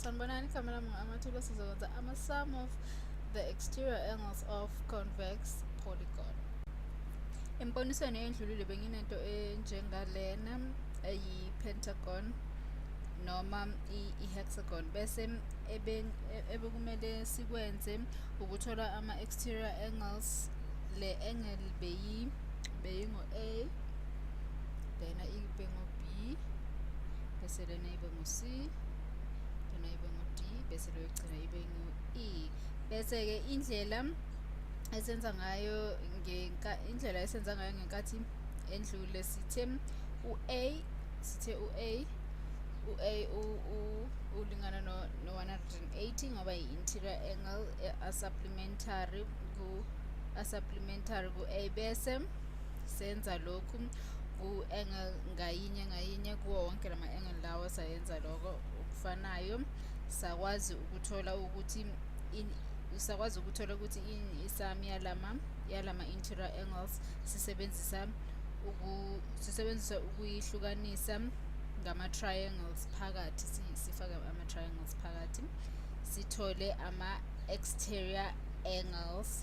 sanibonani igama lami ngu-amathuba sizokwenza ama-sum of the exterior angles of convex polygon embonisweni eyendlulile benginento enjengalena eyi-pentagon noma i-hexagon bese ebekumele sikwenze ukuthola ama-exterior angles le angle beyi beyingo-a lena ibe ngo-b bese lena ibe ngu-c lona ibe ngu-d bese loyokugcina ibe ngu-e bese-ke indlela esenza ngayo indlela esenza ngayo ngenkathi endlule sithe u-a sithe u-a u-a ulingana no-180 ngoba yi-interior angle a-supplementary ku-a supplementary ku-a bese senza lokhu ku-angle ngayinye ngayinye kuwo wonke la ma-angle lawo sayenza lokho okufanayo sakwazi ukuthola ukuthi usakwazi ukuthola ukuthi isami yalama yalama interior angles sisebenzisa uku sisebenzisa ukuyihlukanisa ngama triangles phakathi sifake ama triangles phakathi sithole ama exterior angles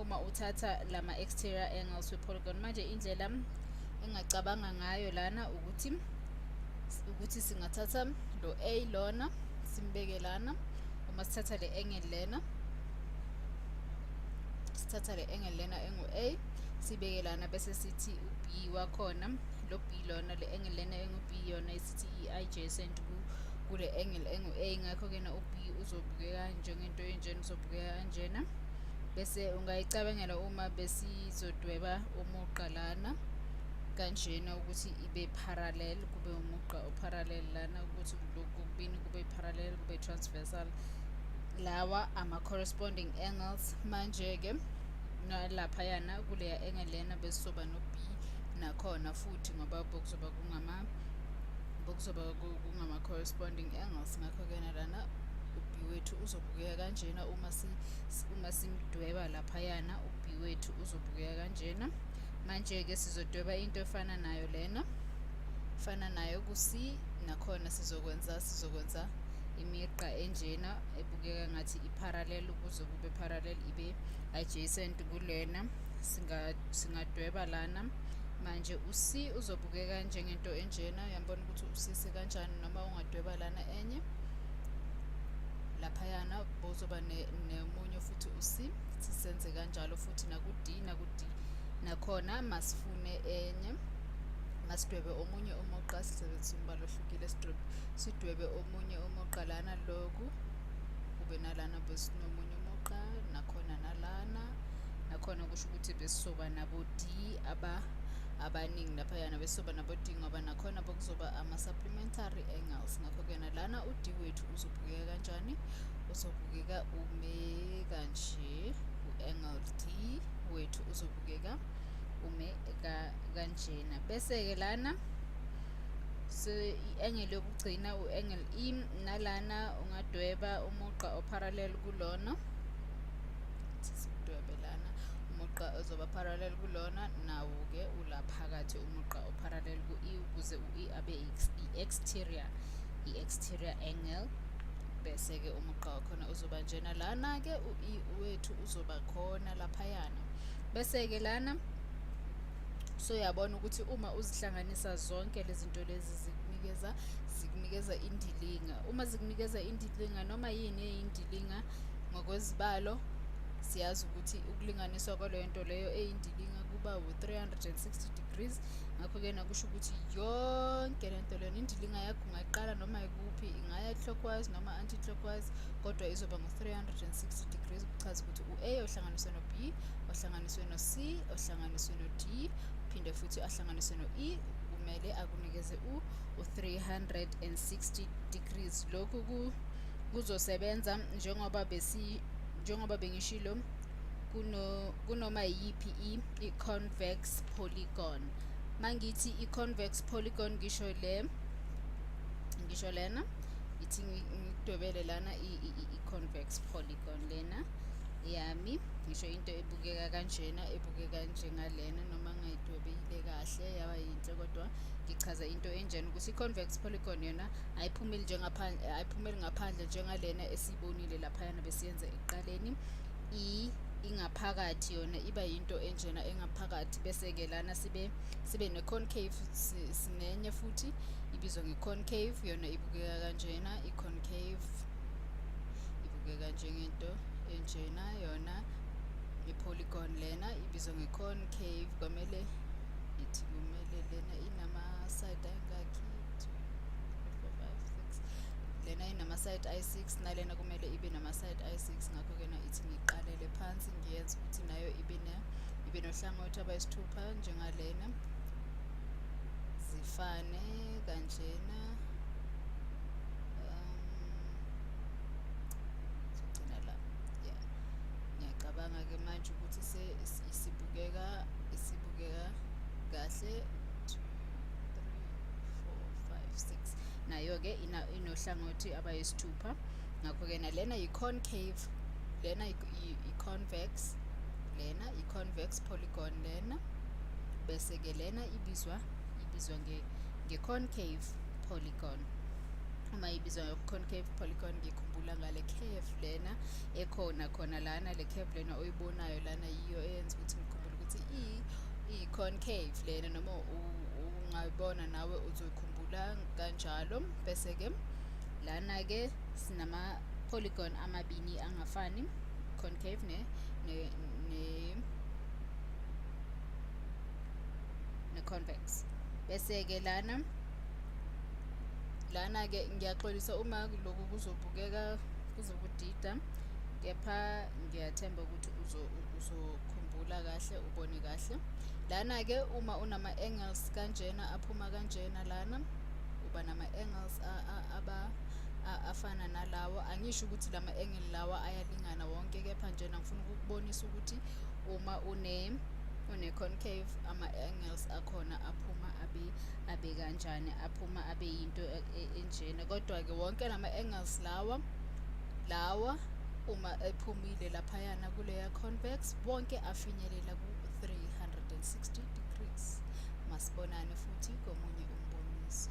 uma uthatha lama exterior angles we polygon manje indlela engacabanga ngayo lana ukuthi ukuthi singathatha lo A lona simbeke lana uma sithatha le angle lena sithatha le angle lena engu A sibeke lana bese sithi u B wakhona lo B lona le angle lena engu B yona isithi i adjacent ku kule angle engu A ngakho ke na u B uzobukeka njengento enjena zobukeka kanjena bese ungayicabangela uma besizodweba umugqa lana kanjena ukuthi ibe parallel kube umugqa oparallel lana ukuthi lokhu kubini kube parallel kube transversal lawa ama corresponding angles manje ke nalapha yana kuleya angle lena besizoba no B nakhona futhi ngoba bokuzoba kungama bokuzoba kungama corresponding angles ngakho ke nalana u B wethu uzo uzobukeka kanjena uma si uma simdweba laphayana uB wethu uzobukeka kanjena manje ke sizodweba into efana nayo lena fana nayo ku C nakhona sizokwenza sizokwenza imigqa enjena ebukeka ngathi i-parallel ukuze kube parallel ibe adjacent kulena singadweba lana manje u-c uzobukeka njengento enjena yambona ukuthi usisi kanjani noma ungadweba lana enye laphayana bozoba nemunye futhi u-c sisenze kanjalo futhi naku-d naku-d nakhona masifune enye masidwebe omunye umugqa sisebenzisa umbala ohlukile sidwebe omunye umugqa lana loku kube nalana besinomunye umugqa nakhona nalana nakhona kusho ukuthi besizoba nabo-d aba abaningi laphayana besizoba nabo-d ngoba nakhona bokuzoba ama-supplementary angles ngakho-ke lana u-d wethu uzobukeka kanjani uzobukeka ume kanje u-angle d wethu uzobukeka ume kanjena bese-ke lana so i-engel yokugcina u-engel e nalana ungadweba umugqa oparallel kulona sidwebe lana umugqa ozoba parallel kulona nawo-ke ula phakathi umugqa oparallel ku-e ukuze u-e abe i-exterior i-exterior angle bese-ke umugqa wakhona uzoba njena lana-ke u-e wethu uzoba khona laphayana bese-ke lana so yabona ukuthi uma uzihlanganisa zonke lezi zinto lezi zikunikeza zikunikeza indilinga uma zikunikeza indilinga noma yini eyindilinga ngokwezibalo siyazi ukuthi ukulinganiswa kwaleyo nto leyo eyindilinga kuba wu-360 degrees ngakho-ke nakusho ukuthi yonke le nto leyona indilinga yakho ungayiqala noma ikuphi ingaya clockwise noma anti-clockwise kodwa izoba ngu-360 degrees kuchaza ukuthi u-a ohlanganiswe no-b ohlanganiswe no-c ohlanganiswe no-d phinde futhi ahlanganiswe no-e kumele akunikeze u-360 degrees lokhu kuzosebenza njengoba besi njengoba bengishilo kuno kunoma iyiphi i i-convex polygon mangithi i-convex polygon ngisho le ngisho lena ithi ngidwebele lana i-convex polygon lena yami ngisho into ebukeka kanjena ebukeka njengalena noma ngayidwebile kahle yaba yinhle kodwa ngichaza into enjena ukuthi i-convex polygon yona ayiphumeli ayiphumeli ngaphandle njengalena esiyibonile laphayana besiyenza ekuqaleni i ingaphakathi yona iba yinto enjena engaphakathi bese-ke lana sibe sibe ne-concave sinenye futhi ibizwa nge-concave yona ibukeka kanjena i-concave ibukeka njengento enjena yona i-polygon lena ibizwa nge-concave kwamele ithi kumele lena inama-side angakhi lena inama-side i-six nalena kumele ibe nama-side i-six ngakho-ke na ithi ngiqalele phansi ngiyenze ukuthi nayo ibe ibe nohlangothi abayisithupha njengalena zifane kanjena ngicabanga-ke manje ukuthi isibukeka isibukeka kahle nayo-ke inohlangothi abayisithupha ngakho-ke nalena yi-concave lena i-convex lena i-convex polygon lena bese-ke lena ibizwa ibizwa nge-concave polygon uma ibizwa nge-concave polygon ngikhumbula ngale curve lena ekhona khona lana le curve lena oyibonayo lana yiyo eyenza ukuthi ngikhumbule ukuthi i-concave lena noma ungayibona nawe uzoyikhuluma bula kanjalo bese ke lana ke sinama polygon amabini angafani concave ne ne, ne ne-convex bese-ke lana lana-ke ngiyaxolisa uma lokhu kuzobukeka kuzokudida kepha ngiyathemba ukuthi uzokhumbula kahle ubone kahle lana-ke uma unama-angles kanjena aphuma kanjena lana uba nama-angles afana nalawo angisho ukuthi la ma-angle lawa ayalingana wonke kepha njena ngifuna ukukubonisa ukuthi uma une une-concave ama-angles akhona aphuma abe abe kanjani aphuma abe yinto e, e, enjena kodwa-ke wonke la ma-angles lawa lawa uma ephumile laphayana kuleya convex wonke afinyelela ku-360 degrees Masibonane futhi komunye umboniso.